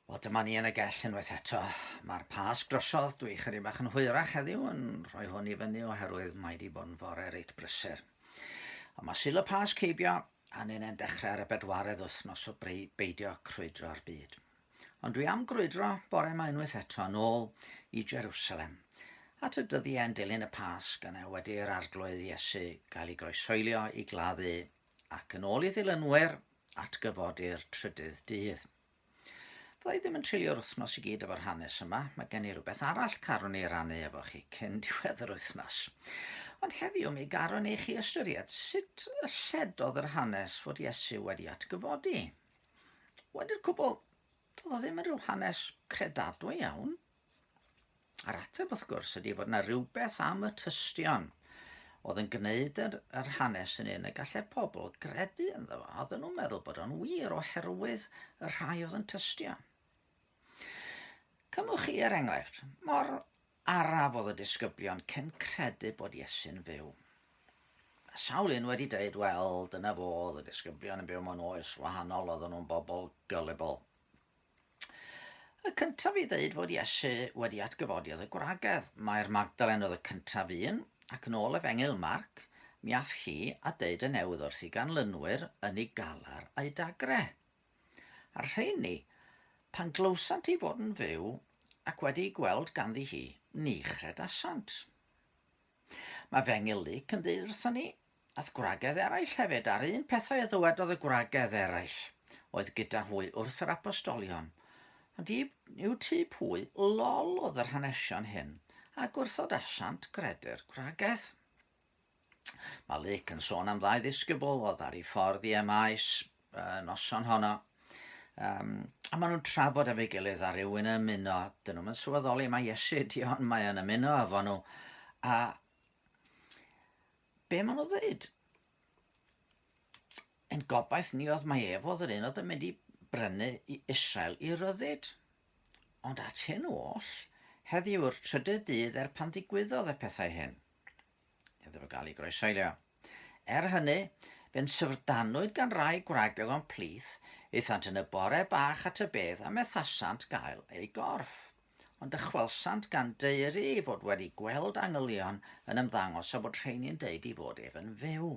Wel, dyma ni yn y gell unwaith eto. Mae'r pas drosodd, dwi chyri bach yn hwyrach heddiw yn rhoi hwn i fyny oherwydd mae di bod yn fore reit brysur. Ond mae sil y pas ceibio a ni'n e'n dechrau ar y bedwaredd wythnos o beidio crwydro'r byd. Ond dwi am grwydro bore mae unwaith eto yn ôl i Jerusalem at y dyddiau yn dilyn y pas gan e wedi i'r arglwydd Iesu gael ei groesoelio i gladdu ac yn ôl i ddilynwyr at gyfodir trydydd dydd. Fydda i ddim yn treulio'r wythnos i gyd efo'r hanes yma, mae gen i rhywbeth arall carwn i rannu efo chi cyn diwedd yr wythnos. Ond heddiw mi garwn i chi ystyried sut y lledodd yr hanes fod Iesu wedi atgyfodi. Wedi'r cwbl, doedd o ddim yn rhyw hanes credadwy iawn, A'r ateb, wrth gwrs, ydy fod yna rhywbeth am y tystion oedd yn gwneud yr, yr hanes yn un y gallai pobl gredu ynddo fo. Oedden nhw'n meddwl bod o'n wir oherwydd y rhai oedd yn tystio. Cymwch chi er enghraifft, mor araf oedd y disgyblion cyn credu bod Iesu'n fyw. Mae sawl un wedi dweud, wel, dyna fo, oedd y disgyblion yn byw mewn oes wahanol, oedden nhw'n bobl gullible. Y cyntaf i ddeud fod Iesu wedi atgyfodi oedd y gwragedd. Mae'r Magdalen oedd y cyntaf un, ac yn ôl Efengyl Marc, mi ath hi a deud y newydd wrth i ganlynwyr yn ei galar a'i dagre. A'r rheini, pan glywsant i fod yn fyw ac wedi ei gweld ganddi hi, ni chredasant. Mae fy ngilydd yn dweud wrthon ni, ath gwragedd eraill hefyd, a'r un pethau a ddywedodd y gwragedd eraill oedd gyda hwy wrth yr apostolion. Ond i, yw ti pwy lol oedd yr hanesion hyn, a gwrthod asiant gredu'r gwragedd. Mae Luc yn sôn am ddau ddisgybl oedd ar ei ffordd i Emaes, y noson honno. Um, a maen nhw'n trafod efo'i gilydd a rhywun yn ymuno. Dyn nhw'n sylweddoli mae Iesu ydi ond mae yn ymuno efo nhw. A be maen nhw'n dweud? Yn gobaith ni oedd mae ef oedd yr un oedd yn mynd i brynu i Israel i ryddid. Ond at hyn oll, heddiw'r trydydd dydd er pan ddigwyddodd y pethau hyn. Nid oedd o gael ei groesailio. Er hynny, fe'n syfrdanwyd gan rai gwragedd o'n plith, aethant yn y bore bach at y bedd a methasant gael eu gorff. Ond dychwelsant gan daeru ei fod wedi gweld angylion yn ymddangos a bod rheini'n deud ei fod ef yn fyw.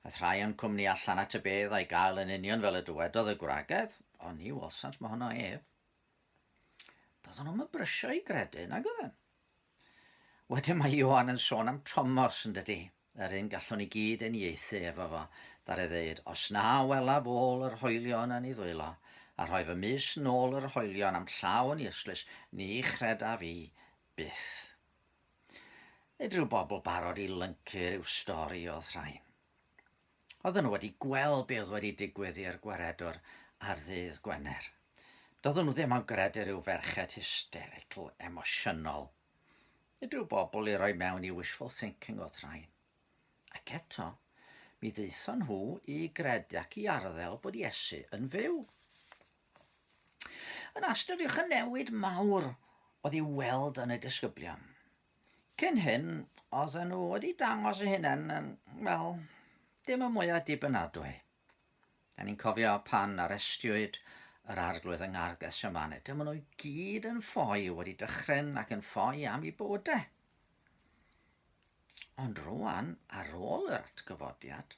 Aeth rhai o'n cwmni allan at y bedd a'i gael yn union fel y dywedodd y gwragedd, ond ni welsant mohono ef. Doeddwn nhw'm yn brysio i gredu nag oedden. Wedyn mae Ioan yn sôn am Tomos, yn dydy? Yr un gallwn i gyd eniaethu efo fo, ddare ddeud, os na welaf ôl yr hoelion yn ei ddwylo, a rhoi fy mys nôl yr hoelion am llaw yn irslis, ni chredaf i byth. Nid rhyw bobl barod i lyncu rhyw stori o'th rhain. Oedden nhw wedi gweld be oedd wedi digwydd i'r gwaredwr ar ddydd Gwener. Doedden nhw ddim yn gredu rhyw ferched hysterical, emosiynol. Nid rhyw bobl i roi mewn i wishful thinking oedd rhain. Ac eto, mi ddaethon nhw i gredu ac i arddel bod Iesu yn fyw. Yn astudiwch y newid mawr oedd i'w weld yn y disgyblion. Cyn hyn, oedden nhw wedi dangos eu hunain yn, wel, dim y mwyaf dibynadwy. Da ni'n cofio pan arestiwyd yr arglwydd yng Ngardd Gethsemane. Dyma nhw i gyd yn ffoi wedi dychryn ac yn ffoi am i bywydau. Ond rwan, ar ôl yr atgyfodiad,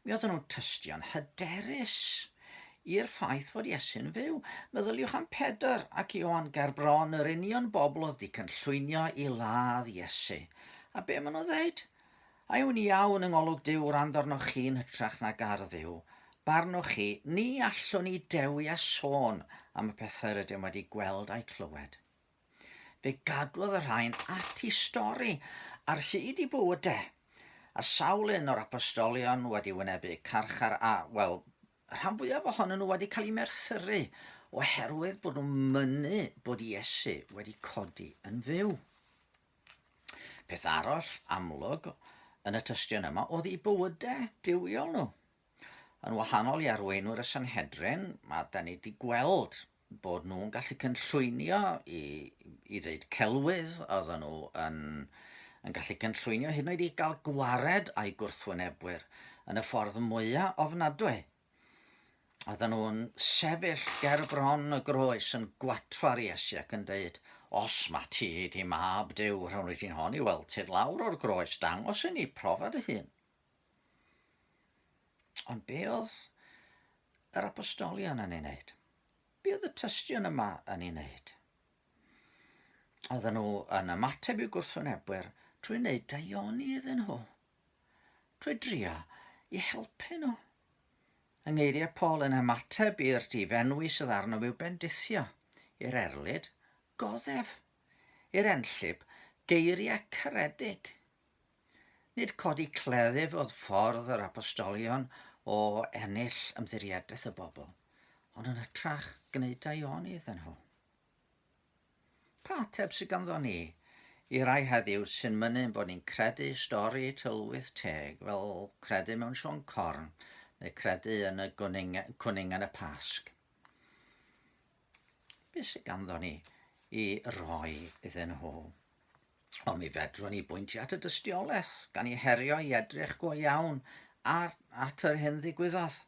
Mi oedden nhw'n tystio'n hyderus i'r ffaith fod Iesu'n fyw. Meddyliwch am Pedr ac Ioan ger bron, yr union bobl oedd wedi cynllwynio i ladd Iesu. A be maen nhw'n ddeud? A yw'n iawn yng ngolwg Duw wrando arnoch chi yn hytrach nag ar Dduw? Barnoch chi, ni allwn ni dewi a sôn am y pethau rydym wedi gweld a'u clywed. Fe gadwodd y rhain ati stori ar hyd i bywyd de, a sawl un o'r Apostolion wedi wynebu carchar a, wel, y rhan fwyaf ohonyn nhw wedi cael eu merthyru oherwydd bod nhw'n mynnu bod Iesu wedi codi yn fyw. Peth arall amlwg yn y tystion yma oedd eu bywydau duwiol nhw. Yn wahanol i arweinwyr y Sanhedrin, mae da ni wedi gweld bod nhw'n gallu cynllwynio i, i ddeud celwydd, oedden nhw yn, yn gallu cynllwynio hyd yn oed i gael gwared a'i gwrthwynebwyr yn y ffordd mwyaf ofnadwy. Oedden nhw'n sefyll ger bron y groes yn gwatwar Iesu ac yn dweud, Os mae ti di mab Dyw, rhawn i ti'n hon i weld ti lawr o'r groes, dangos i ni profa dy hun. Ond be oedd yr apostolion yn ei wneud? Be oedd y tystion yma yn ei wneud? Oedden nhw yn ymateb i'w gwrthwynebwyr trwy wneud daioni iddyn nhw, trwy drio i helpu nhw. Yng ngeiriau Paul yn ymateb i'r difenwi sydd arno i'w bendithio, i'r erlid, goddef, i'r enllib, geiriau caredig. Nid codi cleddyf oedd ffordd yr apostolion o ennill ymddiriedeth y bobl, ond yn hytrach gwneud daionydd yn nhw. Pa ateb sydd ganddo ni i rai heddiw sy'n mynnu bod ni'n credu stori tylwyth teg fel credu mewn Siôn Corn neu credu yn y gwning, cwning yn y Pasg? Beth sydd ganddo ni i roi iddyn nhw? Ond mi fedrwn ni bwyntio at y dystiolaeth, gan i herio i edrych go iawn ar, at yr hyn ddigwyddodd.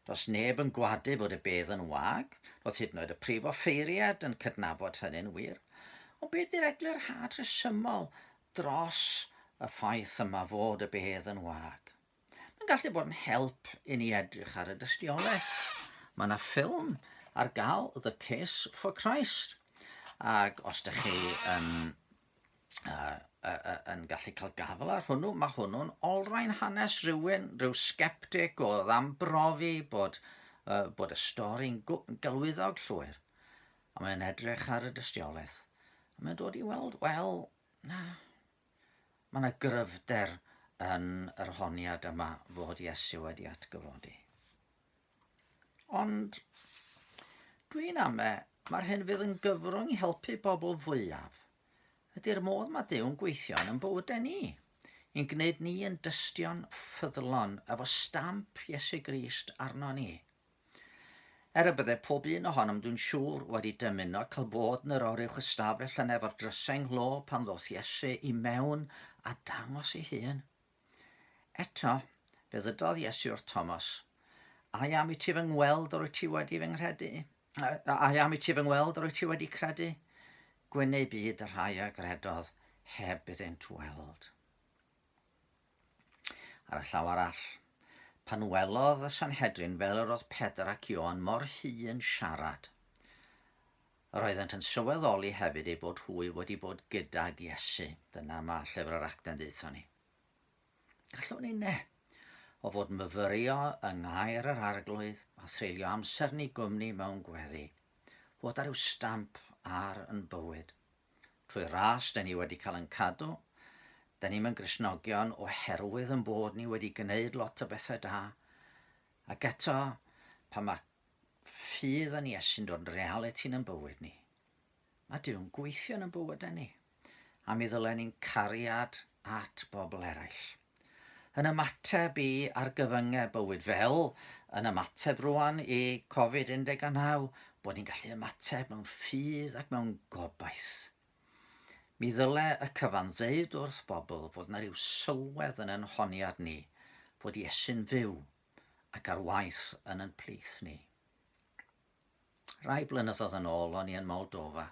Does neb yn gwadu fod y bedd yn wag, roedd hyd yn oed y prif offeiriad yn cydnabod hynny'n wir. Ond beth di'r eglurhad rhesymol dros y ffaith yma fod y bedd yn wag? Mae'n gallu bod yn help i ni edrych ar y dystiolaeth. Mae yna ffilm ar gael, The Case for Christ. Ac os ydych chi yn, uh, uh, uh, yn gallu cael gafel ar hwnnw, mae hwnnw'n olrhain hanes rhywun, rhyw sceptic o ddambrofi bod, uh, bod y stori'n galwyddog llwyr. A mae'n edrych ar y dystiolaeth. A mae'n dod i weld, wel, na, Mae yna gryfder yn yr honiad yma fod Iesu wedi atgyfodi. Ond dwi'n ame, mae'r hyn fydd yn gyfrwng i helpu bobl fwyaf ydy'r modd mae Dew'n gweithio yn bywydau ni, yn gwneud ni yn dystion ffyddlon efo stamp Iesu Grist arno ni. Er y bydde pob un ohonom dwi'n siŵr wedi dymuno cael bod yn yr oruwch ystafell yn efo'r drysau nghlo pan ddoth Iesu i mewn a dangos ei hun. Eto, fe ddydodd Iesu wrth Thomas, A am i ti fy ngweld yr wyt ti wedi fy nghredu? A am i ti fy ngweld yr wyt ti wedi credu? Gwyneu byd y rhai a gredodd heb iddynt weld. Ar y llaw arall, pan welodd y Sanhedrin fel yr oedd Pedr ac Ioan mor hŷ yn siarad, yr oeddent yn sylweddoli hefyd ei bod hwy wedi bod gydag Iesu. Dyna mae llyfr yr actau'n ddeitho ni. Gallwn ni ne, o fod myfyrio yng ngair yr arglwydd a threulio amser ni gwmni mewn gweddi, fod ar yw stamp ar yn bywyd. Trwy ras, da ni wedi cael yn cadw. Da ni'n mynd grisnogion oherwydd yn bod ni wedi gwneud lot o bethau da. Ac eto, pan mae ffydd yn Iesu'n dod yn realiti yn bywyd ni, mae Duw'n gweithio yn bywydau ni. A mi ddylen ni'n cariad at bobl eraill. Yn ymateb i argyfyngau bywyd fel yn ymateb rwan i Covid 19, bod ni'n gallu ymateb mewn ffydd ac mewn gobaith. Mi ddyle y cyfan ddeud wrth bobl fod yna rhyw sylwedd yn yn honiad ni, fod Iesu'n fyw ac ar waith yn yn plith ni. Rai blynyddoedd yn ôl o'n i yn Moldova,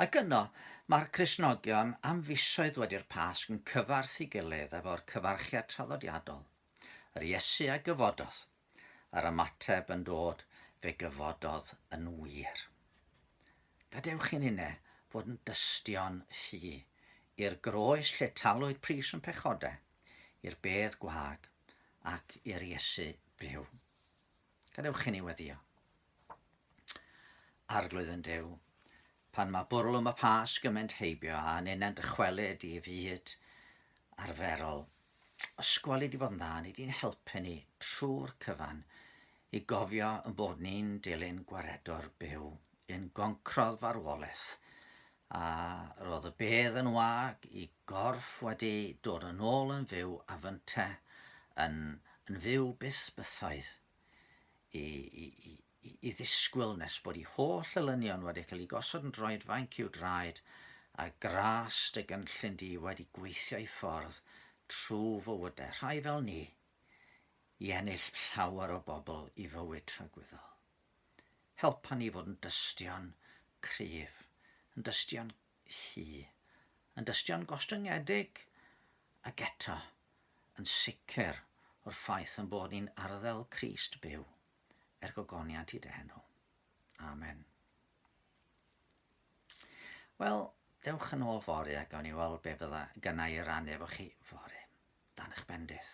ac yno mae'r Cristnogion am fisoedd wedi'r Pasg yn cyfarth i gilydd efo'r cyfarchiad traddodiadol, yr Iesu a gyfododd, a'r ymateb yn dod, fe gyfododd yn wir. Gadewch i'n inne fod yn dystion ffu i'r groes lle talwyd pris yn pechodau, i'r bedd gwag, ac i'r Iesu byw. Gadewch i ni weddio. Arglwydd yn dew, pan mae bwrlwm y pas gymaint heibio a nenant dychwelyd i fyd arferol, ysgwali di fod yn dda, nid i'n helpu ni trwy'r cyfan i gofio yn bod ni'n dilyn gwaredwr byw yn goncrodd farwolaeth A roedd y bedd yn wag i gorff wedi dod yn ôl yn fyw a fynte yn, yn fyw byth bythoedd i, i, i, i ddisgwyl nes bod ei holl elynion wedi cael ei gosod yn droed fainc i'w draed a gras dy gynllun di wedi gweithio i ffordd trw fywydau rhai fel ni i ennill llawer o bobl i fywyd tragwyddol. Helpa ni fod yn dystion cryf, yn dystion hŷ, yn dystion gostyngedig, ac eto, yn sicr o'r ffaith ein bod ni'n arddel Crist byw, er gogoniant i d'enw. Amen. Wel, dewch yn ôl fori a gawn ni weld be fydda gynnau i rannu efo chi fori, dan eich bendith.